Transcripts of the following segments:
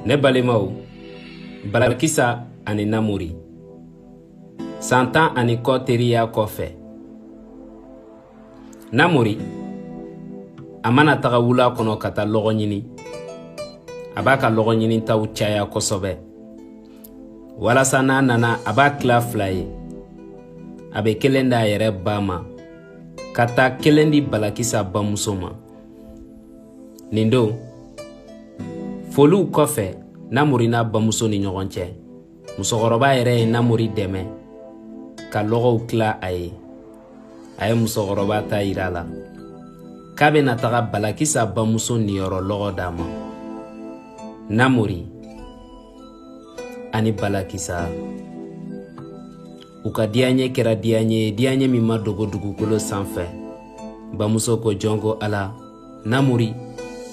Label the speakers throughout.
Speaker 1: ne balimaw balakisa ani namori san tan ani kɔ teriya kɔfɛ namori a mana taga wula kɔnɔ ka taa lɔgɔ ɲini a b'a ka lɔgɔ ɲinitaw caya kosɛbɛ walasa n'a nana a b'a tila fila ye a bɛ kelen d'a yɛrɛ ba ma ka taa kelen di balakisa bamuso ma nin don foliw kɔfɛ namori n'a bamuso ni ɲɔgɔn cɛ musokɔrɔba yɛrɛ ye namori dɛmɛ ka lɔgɔw tila a ye a ye musokɔrɔba ta yir'a la k'a bɛna taga balakisa bamuso niyɔrɔ lɔgɔ d'a ma namori ani balakisa u ka diyaɲɛ kɛra diyaɲɛ ye diyaɲɛ min ma dogo dugukolo sanfɛ bamuso ko jɔn ko ala namori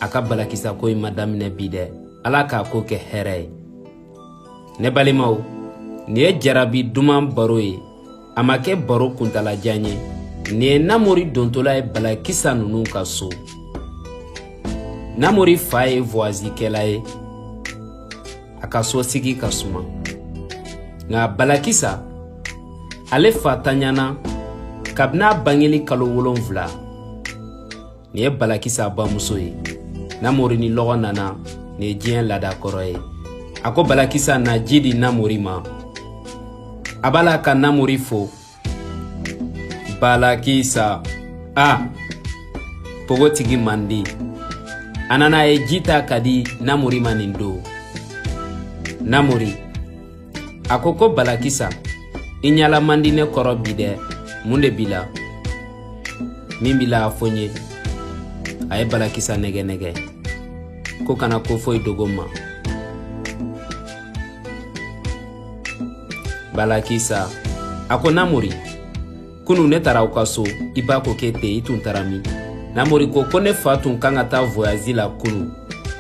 Speaker 1: a ka balakisa ko in ma daminɛ bi dɛ ala k'a ko kɛ hɛrɛ ye ne balimaw nin ye jarabi duman baro ye a ma kɛ baro kuntalajan ye nin ye namori dontola ye balakisa ninnu ka so namori fa ye voyazikɛla ye a ka sosigi ka suma nka balakisa ale fa tanyana kabini a bangeli kalo wolonfila nin ye balakisa bamuso ye namori ni lɔgɔ nana nin ye diɲɛ lada kɔrɔ ye a ko balakisa na ji di namori ma a b'a la ka namori fo balakisa a pogotigi mandi a nana a ye ji ta ka di namori ma nin don namori a ko ko balakisa i ɲala man di ne kɔrɔ bi dɛ mun de b'i la min b'i la a fɔ n ye a ye balakisa nɛgɛ nɛgɛ ko kana ko foyi dogo n ma balakisa a ko namori kunu ne taara aw ka so i ba ko k'e tɛ yen i tun taara min namori ko ko ne fa tun kan ka taa voyazi la kunu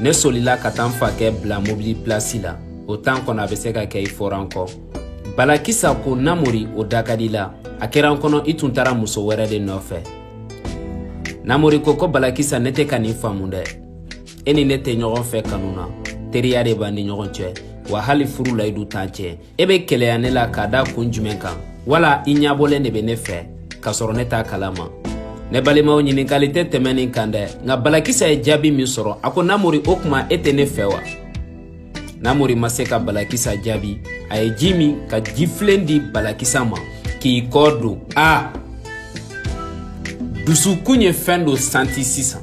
Speaker 1: ne solila ka taa n fakɛ bila mobili pilasi la o tan kɔnɔ a bɛ se ka kɛ i fɔra n kɔ balakisa ko namori o da ka di la a kɛra n kɔnɔ i tun taara muso wɛrɛ de nɔfɛ namori ko ko balakisa ne tɛ ka nin faamu dɛ e ni ne tɛ ɲɔgɔn fɛ kanu na teriya de b'an ni ɲɔgɔn cɛ wa hali furu layidu t'an cɛ e bɛ keleya ne la k'a da kun jumɛn kan wala i ɲabɔlen de bɛ ne fɛ k'a sɔrɔ ne t'a kalama ne balimaw ɲininkali tɛ tɛmɛn nin kan dɛ nka balakisa ye jaabi min sɔrɔ a ko namori o tuma e tɛ ne fɛ wa namori ma se ka balakisa jaabi a ye ji min ka jifilen di balakisa ma k'i kɔ don a dusukun ye fɛn dɔ santi sisan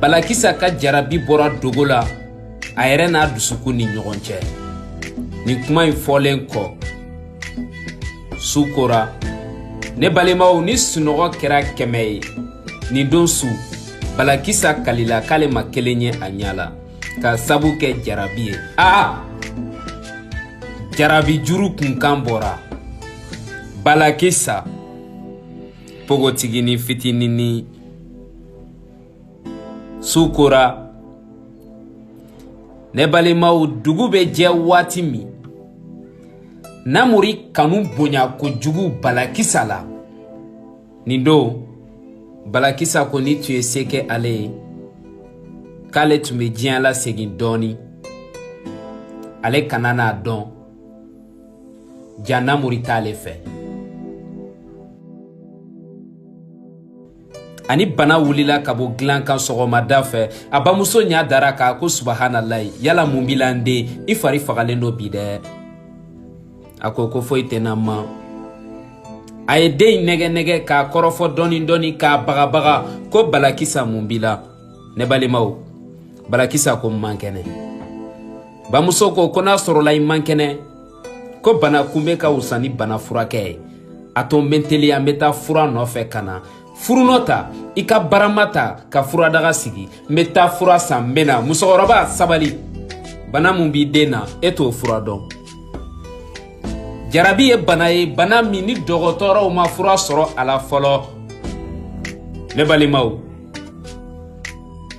Speaker 1: balakisa ka jarabi bɔra dogo la a yɛrɛ n'a dusukun ni ɲɔgɔn cɛ nin kuma in fɔlen kɔ su kora ne balimaw ni sunɔgɔ kɛra kɛmɛ ye nin don su balakisa kalila k'ale ma kelen ye a ɲa la ka sabu kɛ jarabi ye aa jarabi juru kunkan bɔra balakisa pogotigini fitinini su kora ne balimaw dugu bɛ jɛ waati min namori kanu bonya kojugu balakisa la nin don balakisa ko ni tun ye se kɛ ale ye k'ale tun bɛ diɲɛ lasegin dɔɔni ale kana n'a dɔn ja namori t'ale fɛ a ni bana wulila ka bɔ dilan kan sɔgɔmada fɛ a bamuso ɲa dar'a kan ko subahanalayi yala mun b'i la n den i fari fagalen don bi dɛ a ko ko foyi tɛ n na ma a ye den in nɛgɛ-nɛgɛ k'a kɔrɔfɔ dɔɔni-dɔɔni k'a bagabaga ko balakisa mun b'i la ne balimaw balakisa ko n man kɛnɛ bamuso ko ko n'a sɔrɔla i man kɛnɛ ko bana kunbɛ ka wusa ni bana furakɛ ye a to n bɛ teliya n bɛ taa fura nɔfɛ ka na furunɔ ta i ka barama ta ka furadaga sigi n bɛ taa fura san n bɛ na musokɔrɔba sabali bana min b'i den na e t'o fura dɔn jarabi ye bana ye bana min ni dɔgɔtɔrɔw ma fura sɔrɔ a la fɔlɔ ne balimaw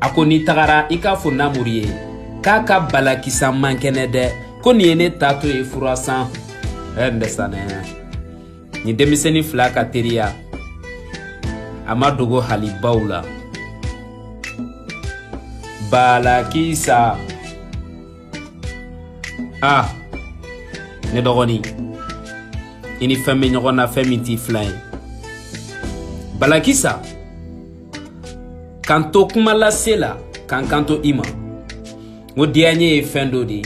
Speaker 1: a ko n'i tagara i k'a fɔ namori ye k'a ka balakisa man kɛnɛ dɛ ko nin ye ne taatɔ ye fura san ɛ n bɛ sanɛya nin denmisɛnnin fila ka teriya a ma dogo hali baw la balakisa a ne dɔgɔnin i ni fɛn bɛ ɲɔgɔn na fɛn min t'i filan ye balakisa k'an to kuma lase la k'an kanto i ma n ko diyaɲe ye fɛn dɔ de ye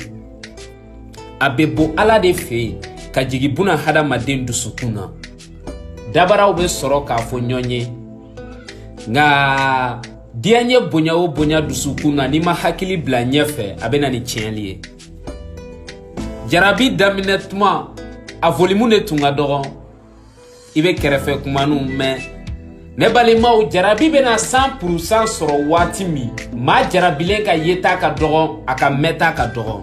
Speaker 1: a bɛ bɔ ala de fɛ yen ka jigin buna hadamaden dusukun na dabaraw bɛ sɔrɔ k'a fɔ ɲɔgɔn ye nka diyaɲe bonya o bonya dusukun na n'i ma hakili bila ɲɛfɛ a bɛ na ni tiɲɛli ye jarabi daminɛ tuma a volimu de tun ka dɔgɔn i bɛ kɛrɛfɛ kumaniw mɛn ne balimaw jarabi bɛna san purusan sɔrɔ waati min maa jarabilen ka yeta ka dɔgɔn a ka mɛnta ka dɔgɔn